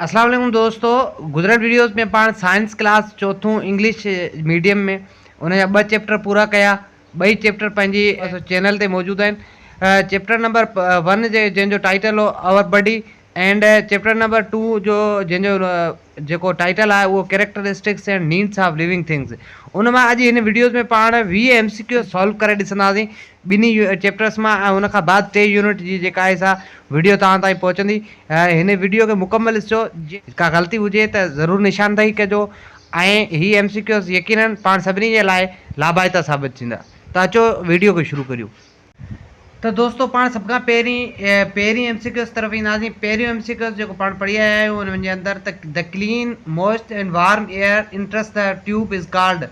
اسلام عليڪم دوستو گذريل ويڊيوز ۾ پاڻ سائنس ڪلاس چوٿون انگلش ميڊيم ۾ ان جا ٻه چيپٽر پورا ڪيا ٻئي چيپٽر پنهنجي چينل تي موجود آهن چيپٽر نمبر ون جي جنهن جو ٽائيٽل هو our body and chapter number two جو جنهن جو جيڪو ٽائيٽل آهي اهو characteristics and needs of living things ان مان اڄ هن ويڊيوز ۾ پاڻ ويهه ايم سي ڪيو سالو ڪري ڏسنداسين ٻنهي چيپٽرس مان ۽ ان کان بعد ٽئين يونٽ جي جيڪا آهي سا وڊيو توهان تائين پهچندي. هن وڊيو کي مڪمل ڏسجو. ڪا غلطي هجي ته ضرور نشاندهي ڪجو ۽ هي ايم سي ڪيوز يقيناً پاڻ سڀني جي لاء لاڀائتا ثابت ٿيندا. ته اچو وڊيو کي شروع ڪريون. ته دوستو پاڻ سڀ کان پهرين پهرين ايم سي ڪيوز طرف اينداسين. پهريون ايم سي ڪيوز جيڪو پاڻ پڙهي آيا آهيون ان جي اندر ته The clean, moist and warm air enters the tube is called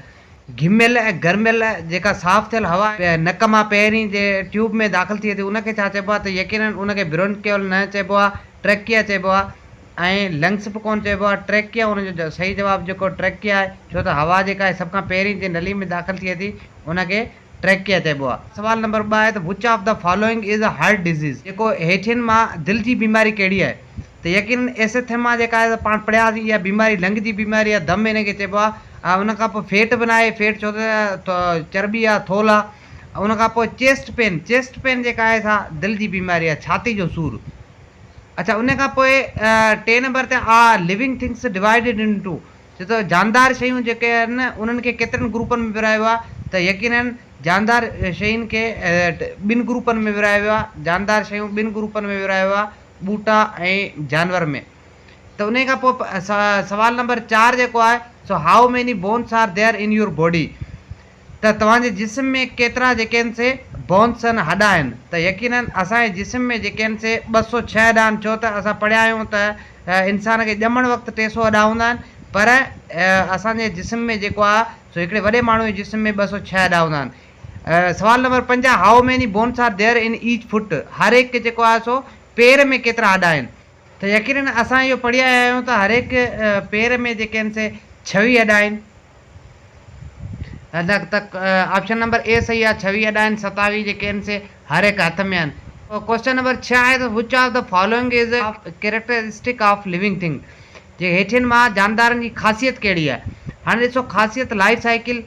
گهميل ۽ گرميل جيڪا صاف ٿيل هوا نڪ مان پهرين جي ٽيوب ۾ داخل ٿئي ٿي ان کي ڇا چئبو آهي ته يقينن ان کي برونڪيول نه چئبو آهي ٽريڪيا چئبو آهي ۽ لنگس به ڪونه چئبو آهي ٽريڪيا ان جو صحيح جواب جيڪو ٽريڪيا آهي ڇو ته هوا جيڪا آهي سڀ کان پهرين جي نلي ۾ داخل ٿئي ٿي ان کي ٽريڪ ڪيا چئبو آ. سوال نمبر ٻه آهي ته which of the following is a heart disease جيڪو هيٺين مان دل جي بيماري ڪهڙي آهي ته يقينن ايسيٿيما جيڪا آهي سا پاڻ پڙهيا سين اها بيماري لنگ جي بيماري آهي دم ان کي چئبو آهي ان کان پوء فيٽ به ناهي فيٽ ڇو ته چرٻي آهي ٿولهه آهي ان کان پوء چيسٽ پين چيسٽ پين جيڪا آهي سا دل جي بيماري آهي ڇاتي جو سور اڇا ان کان پوء ٽي نمبر تي are living things divided into ڇو ته جاندار شيون جيڪي آهن انهن کي ڪيترن گروپن ۾ ورهايو ويو آهي ته يقيناً جاندار شين کي ٻن گروپن ۾ ورهايو ويو آهي جاندار شيون ٻن گروپن ۾ ورهايو ويو آهي ٻوٽا ۽ جانور ۾ ته انهي کان پوء سوال نمبر چار جيڪو آهي سو how many bones are there in your body ته توهان جي جسم ۾ ڪيترا جيڪين سي بونس سن هڏا آهن ته يقيناً اسان جي جسم ۾ جيڪين سي ٻه سؤ ڇهه هڏا آهن ڇو ته اسان پڙهيا آهيون ته انسان کي ڄمڻ وقت ٽي سؤ هڏا هوندا آهن پر اسان جي جسم ۾ جيڪو آهي سو هڪڙي وڏي ماڻهو جي جسم ۾ ٻه سؤ ڇهه هڏا هوندا آهن. سوال نمبر پنجاهه how many bones are there in each foot هر هڪ کي جيڪو آهي سو پير ۾ ڪيترا هڏا آهن؟ ته يقيناً اسان اهو پڙهي آيا آهيون ته هر هڪ پير ۾ جيڪين سي ڇويهه هڏا آهن آپشن نمبر اي صحيح آهي ڇويهه اڏا آهن ستاويهه جيڪي آهن سي هر هڪ هٿ ۾ آهن. ڪوئسچن نمبر ڇهه آهي ته which of the following is a characteristic of living thing جي هيٺين مان جاندارن جي خاصيت ڪهڙي آهي هاڻي ڏسو خاصيت لائيف سائيڪل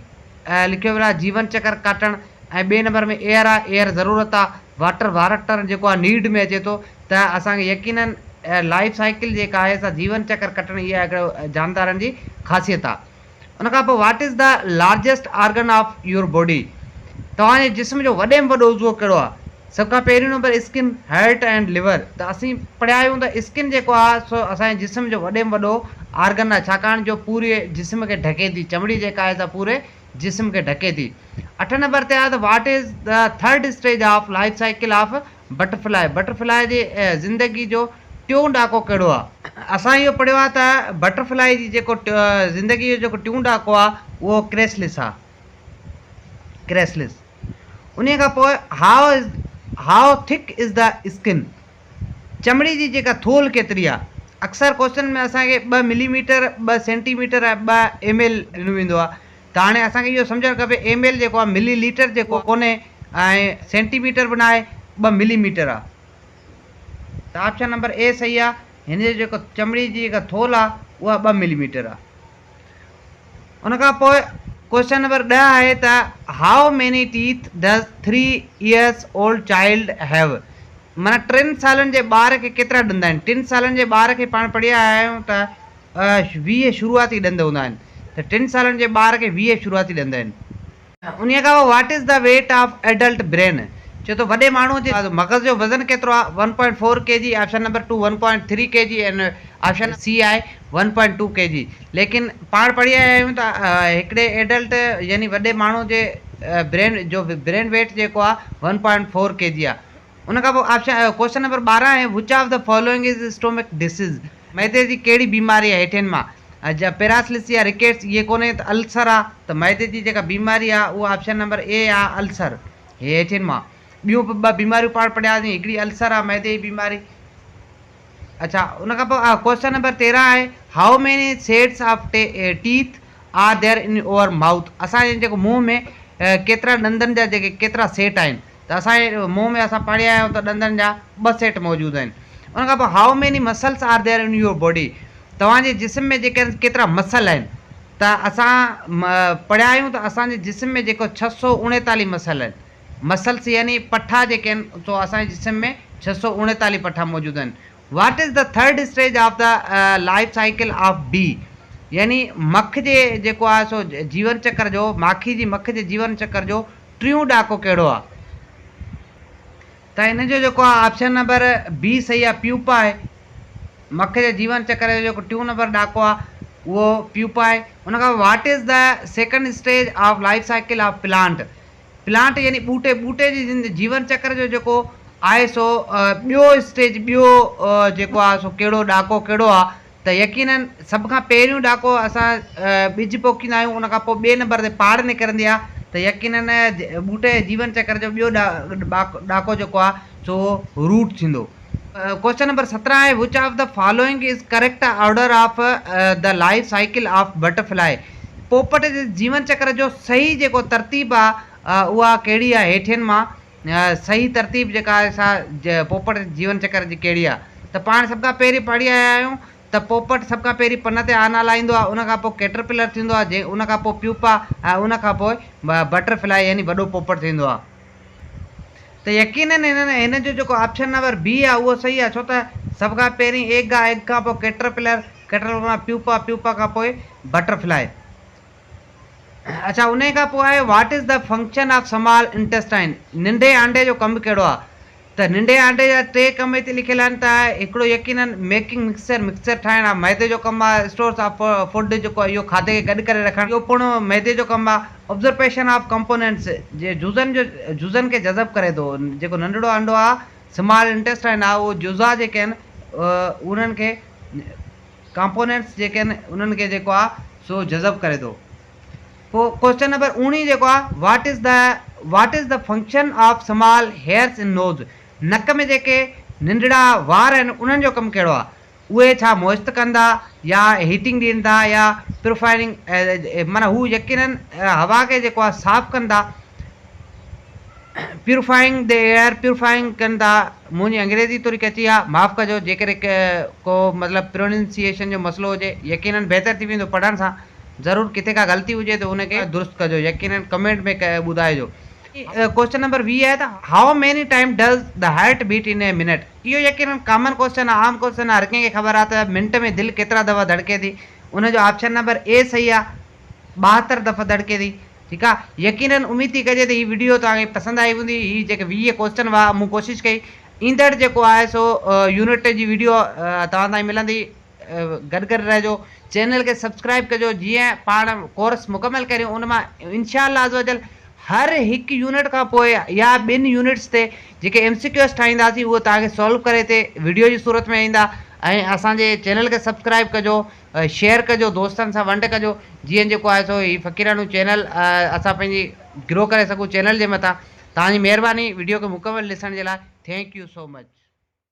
لکيو ويل آهي جيون چڪر ڪاٽڻ ۽ ٻئي نمبر ۾ ايئر آهي ايئر ضرورت آهي. واٽر وارڪٽر جيڪو آهي نيڊ ۾ اچي ٿو ته اسان کي يقينن لائيف سائيڪل جيڪا آهي سا جيون چڪر ڪٽڻ اها هڪڙو جاندارن جي خاصيت آهي ان کان پوء what is the largest organ of your body توهان جي جسم جو وڏي ۾ وڏو عضوو ڪهڙو آهي سڀ کان پهريون number skin heart and liver ته اسين پڙهيا آهيون ته اسڪن جيڪو آهي سو اسان جي جسم جو وڏي ۾ وڏو آرگن آهي ڇاڪاڻ جو پوري جسم کي ڍڪي ٿي چمڙي جيڪا آهي سا پوري جسم کي ڍڪي ٿي. اٺ نمبر تي آهي ته what is the third stage of life cycle of butterfly, butterfly جي زندگي جو ٽيون ڏاڪو ڪهڙو آهي؟ اسان اهو پڙهيو آهي ته بٽر فلائي جي جيڪو زندگي جو جيڪو ٽيون ڏاڪو آهي اهو ڪريسلس آهي، Chrysalis. انهيء کان پوء هاء از هاء ٿڪ از دي اسڪن، چمڙي جي جيڪا ٿولهه ڪيتري آهي؟ اڪثر ڪوشچن ۾ اسان کي ٻه ملي ميٽر، ٻه سينٽي ميٽر ۽ ٻه ايم ايل ڏنو ويندو آهي ته هاڻي اسان کي اهو سمجهڻ کپي ايم ايل جيڪو آهي ملي ليٽر جيڪو ڪونهي ۽ سينٽي ميٽر به ناهي ٻه ملي ميٽر آهي ته آپشن نمبر اي صحيح آهي هن جو جيڪو چمڙي جي جيڪا ٿولهه آهي اها ٻه ملي ميٽر آهي. ان کان پوء ڪوشچن نمبر ڏهه آهي ته how many teeth does three years old child have معنيٰ ٽن سالن جي ٻار کي ڪيترا ڏند آهن ٽن سالن جي ٻار کي پاڻ پڙهيا آهيون ته ويهه شروعاتي ڏند هوندا آهن ته ٽن سالن جي ٻار کي ويهه شروعاتي ڏند آهن انهيء کان پوء what is the weight of adult brain? چئو ته وڏي ماڻهوء جي مغز جو وزن ڪيترو آهي؟ One point four K G, option number two one point three K G ۽ option C آهي one point two K G. ليڪن پاڻ پڙهي آيا آهيون ته هڪڙي ايڊلٽ يعني وڏي ماڻهوء جي برين جو برين ويٽ جيڪو آهي one point four K G آهي. ان کان پوء آپشن ڪوشچن نمبر ٻارهن آهي which of the following is stomach disease معدي جي ڪهڙي بيماري آهي هيٺين مان جا پيراسلس يا رڪيٽس اهي ڪونهي ته السر آهي ته معدي جي جيڪا بيماري آهي اهو آپشن نمبر اي آهي السر هي هيٺين مان ٻيون به ٻه بيماريون پاڻ پڙهياسين هڪڙي السر آهي معدي جي بيماري اڇا ان کان پوء ڪوشچن نمبر تيرهن آهي how many sets of teeth are there in our mouth اسان جي جيڪو منهن ۾ ڪيترا ڏندن جا جيڪي ڪيترا سيٽ آهن ته اسان جي منهن ۾ اسان پڙهي آيا آهيون ته ڏندن جا ٻه سيٽ موجود آهن ان کان پوء how many muscles are there in your body توهان جي جسم ۾ جيڪي ڪيترا مسل آهن ته اسان پڙهيا آهيون ته اسان جي جسم ۾ جيڪو ڇهه سؤ اڻيتاليهه مسل آهن مسلس يعني پٺا جيڪي آهن سو اسان جي جسم ۾ ڇهه سؤ اڻيتاليهه پٺا موجود آهن what is the third stage of the life cycle of B يعني مک جي جيڪو آهي سو جيون چڪر جو ماکي جي مک جي جيون چڪر جو ٽيون ڏاڪو ڪهڙو آ ته ان جو جيڪو آ آپشن نمبر بي صحيح آ پيوپا آهي مک جي جيون چڪر جو جيڪو ٽيون نمبر ڏاڪو آ اهو پيوپا آهي ان کان پوء what is the second stage of life cycle of plant plant يعني ٻوٽي ٻوٽي جي زندگي جيون چڪر جو جيڪو آهي سو ٻيو اسٽيج ٻيو جيڪو آ سو ڪهڙو ڏاڪو ڪهڙو آ ته يقيناً سڀ کان پهريون ڏاڪو اسان ٻج پوکيندا آهيون ان کان پوء ٻئي نمبر تي پاڙ نڪرندي آهي ته يقيناً ٻوٽي جي جيون چڪر جو ٻيو ڏاڪو جيڪو آهي سو روٽ ٿيندو. ڪوشچن نمبر سترهن آهي which of the following is correct order of the life cycle of butterfly پوپٽ جي جيون چڪر جو صحيح جيڪو ترتيب آهي اها ڪهڙي آهي هيٺين مان صحيح ترتيب جيڪا آهي سا پوپٽ جيون چڪر جي ڪهڙي آهي ته پاڻ سڀ کان پهرين پڙهي آيا آهيون ته پوپٽ سڀ کان پهرين پن تي آنا لاهيندو آهي ان کان پوء ڪيٽرپلر ٿيندو آهي جي ان کان پوء پيوپا ۽ ان کان پوء بٽر فلائي يعني وڏو پوپٽ ٿيندو آهي ته يقينن هن هن جو جيڪو آپشن نمبر بي آهي اهو صحيح آهي ڇو ته سڀ کان پهرين ايگ آهي ايگ کان پوء ڪيٽرپلر ڪيٽرپلر کان پوء پيوپا پيوپا کان پوء بٽر فلائي اڇا انهي کان پوء what is the function of small intestine ننڍي آنڊي جو ڪم به ڪهڙو آهي ته ننڍي آنڊي جا ٽي ڪم هتي لکيل آهن ته هڪڙو يقينن ميڪنگ مڪسچر مڪسچر ٺاهڻ آهي معدي جو ڪم آهي اسٽورس آف فوڊ جيڪو اهو کاڌي کي گڏ ڪري رکڻ اهو پڻ معدي جو ڪم آهي ابزرپيشن آف ڪمپونينٽس جي جزن جو جزن کي جذب ڪري ٿو جيڪو ننڍڙو آنڊو آهي سمال انٽيسٽائن آهي اهو جزا جيڪي آهن انهن کي ڪامپونيٽس جيڪي آهن انهن کي جيڪو آهي سو جذب ڪري ٿو. پوء ڪوئسچن نمبر اوڻيهه جيڪو آهي what is the what is the function of small hairs in nose نڪ ۾ جيڪي ننڍڙا وار آهن انهن جو ڪم ڪهڙو آهي اهي ڇا موئسٽ ڪن ٿا يا هيٽنگ ڏين ٿا يا پيورفائرنگ معنيٰ هو يقينن هوا کي جيڪو آهي صاف ڪن ٿا. پيوريفائنگ دي ايئر پيوريفائنگ ڪن ٿا منهنجي انگريزي ٿوري ڪچي آ معاف ڪجو جيڪڏهن ڪو مطلب پروننسيئيشن جو مسئلو هجي يقينن بهتر ٿي ويندو پڙهڻ سان ضرور ڪٿي ڪا غلطي هجي ته ان کي درست ڪجو يقينن ڪمينٽ ۾ ٻڌائجو. ڪوئسچن نمبر ويهه آهي ته how many time does the heart beat in a minute اهو يقينن ڪامن ڪوئسچن آ عام ڪوئسچن آ هر ڪنهن کي خبر آ ته منٽ ۾ دل ڪيترا دفعا ڌڙڪي ٿي ان جو آپشن نمبر اي صحيح آ ٻاهتر دفعا ڌڙڪي ٿي. ٺيڪ آ يقينن اميد ٿي ڪجي ته هي وڊيو توهان کي پسند آئي هوندي هي جيڪي ويهه ڪوسچن هئا مون ڪوشش ڪئي ايندڙ جيڪو آهي سو يونٽ ٽي جي وڊيو توهان تائين ملندي گڏ گڏ رهجو چينل کي سبسڪرائب ڪجو جيئن پاڻ ڪورس مڪمل ڪريون ان مان انشاء الله عزوجل هر هڪ يونٽ کان پوء يا ٻن يونٽس تي جيڪي ايم سي ڪيوس ٺاهينداسين اهو توهان کي سالو ڪري تي وڊيو جي صورت ۾ ايندا ۽ اسان جي چينل کي سبسڪرائب ڪجو شيئر ڪجو دوستن سان ونڊ ڪجو جيئن جيڪو آهي سو هي فقيراڻو چينل اسان پنهنجي گرو ڪري سگهون چينل جي مٿان توهان جي مهرباني ويڊيو کي مڪمل ڏسڻ جي لاء ٿينڪ يو سو مچ.